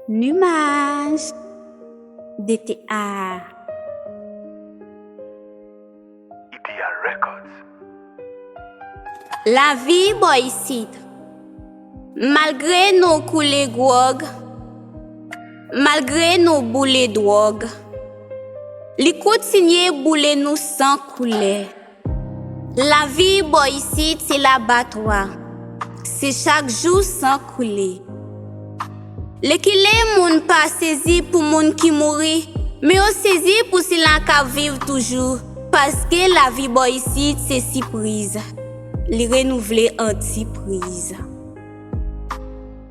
Numaj dete aa. Ideal Records. Lavi bò isit. Malgre nou koule gwòg, malgre nou boule dwòg, li kontinye boule nou san koule. Lavi bò isit se labatwa, se chak jou san koule. Lekile moun pa sezi pou moun ki mouri, men yo sezi pou sila k ap viv toujou, paske lavi bò isit se sipriz, li renouvle antipriz.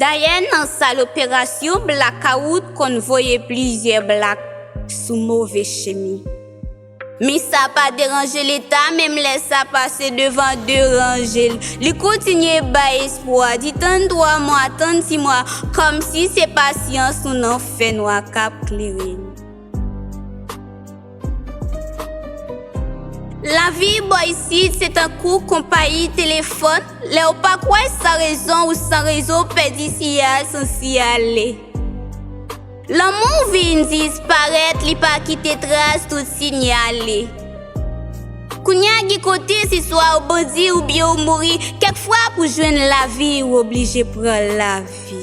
Dayè nan sal operasyon blakawout konn voye plizyè blak sou move chemi. Men sa pa deranje leta menm lè sa pase devan de ranje l. Li kontinye bay espwa, di tann twa mwa, tann si mwa, kòmsi se pasyans nou nan fènwa k ap klere n. Lavi bò isit se tankou konpayi telefòn, lè ou pa kwè san rezon ou san rezo ou pèdi siyal san siyale. Lanmou w vin disparèt li pa kite tras tout sinyale. Kounya gen kote se swa ou bandi oubyen ou mouri kèk fwa pou jwenn lavi ou oblije pran lavi.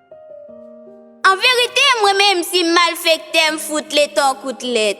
An verite mwen menm si m malfektè m fout leta w kout lèt.